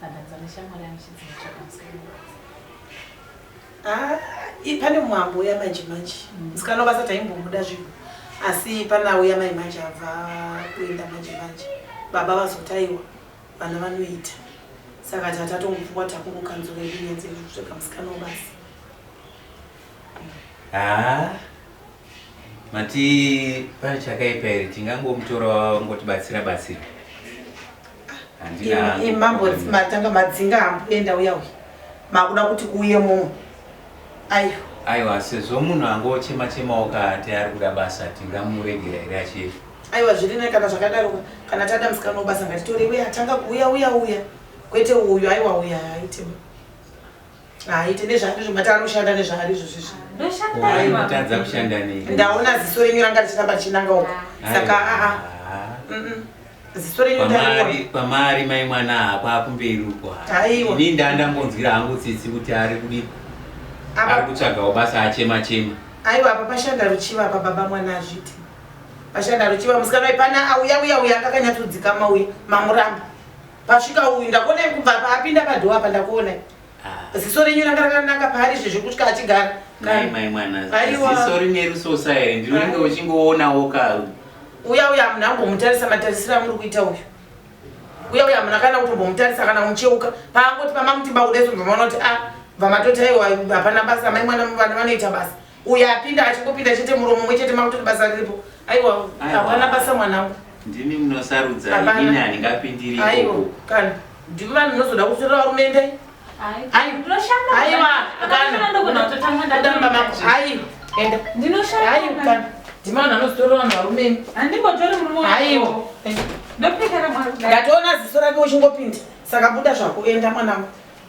Tadadza neshamwari yangu chidzidzo chakamusikana. Ah, pane mwambo uya manje manje mm. musikana mm. vasati aimbomuda zvinhu asi pana uya mai manje abva kuenda manje manje baba vazotaiwa vana vanoita saka tatatongopfukwa takungokanzura yedu nyanzi kutsvega musikana wabasi haa ah, Mati pane chakaipa here tingangomutora wangotibatsira batsira. Handina. Imambo matanga madzinga hamboenda uya uya. Makuda kuti kuuye mumwe. Ayo. Aiwa sezvo munhu angochema chema okati ari kuda basa tingamuregera here achienda. Aiwa zviri ne kana zvakadaroka kana tada musikana wobasa ngatitore uye atanga kuuya uya uya kwete uyu aiwa uya haitema. Haaite nezvaari izvo mati anoshanda nezvaari izvo zvizvi. Ndoshanda Why mama. kutadza kushanda nei? Ndaona ziso renyu ranga richiramba richinanga uko. Saka aa. Ah, Mm-mm. Ziso renyu ndariona. pamari pamari mai mwana hapa kumberi uko Aiwa. ini ndandambonzwira hangu tsitsi kuti ari kudi ari Apa kutsvagawo basa achema chema aiwa apa pashanda ruchiva apa baba mwana azviti. Pashanda ruchiva musikana uyu pana auya uya uya akakanyatsodzikama uya mamuramba. Pasvika uyu ndakuona kubva apinda padhowa apa ndakuona. Ah. Ziso renyu ranga rakananga paari zvezvo kuti achigara. Mai mai mwana. Ziso rine ruso saere ndinenge uchingoonawo ka. Uya uya amuna ambomutarisa matarisira muri kuita uyu. Uya uya amuna kana kutombomutarisa kana kumucheuka paangoti pamamuti bakudeso mvamaona kuti ah vamatoti aiwa hapana basa mai mwana vana vanoita basa. uyo apinda achingopinda chete muromo mumwe chete makutoti basa riripo aiwa hapana basa mwanangu ndimi munosarudza ini handingapindiri aiwa kana ndimi vanhu munozoda kutorera varumende aiwa kanaadamba mako aiwa enda ndinoshaya aiwa kana ndimi vanhu vanozotorera vanhu varumende handimbotori murume aiwa ndopekera mwana ndatoona ziso rake uchingopinda saka buda zvako enda mwanangu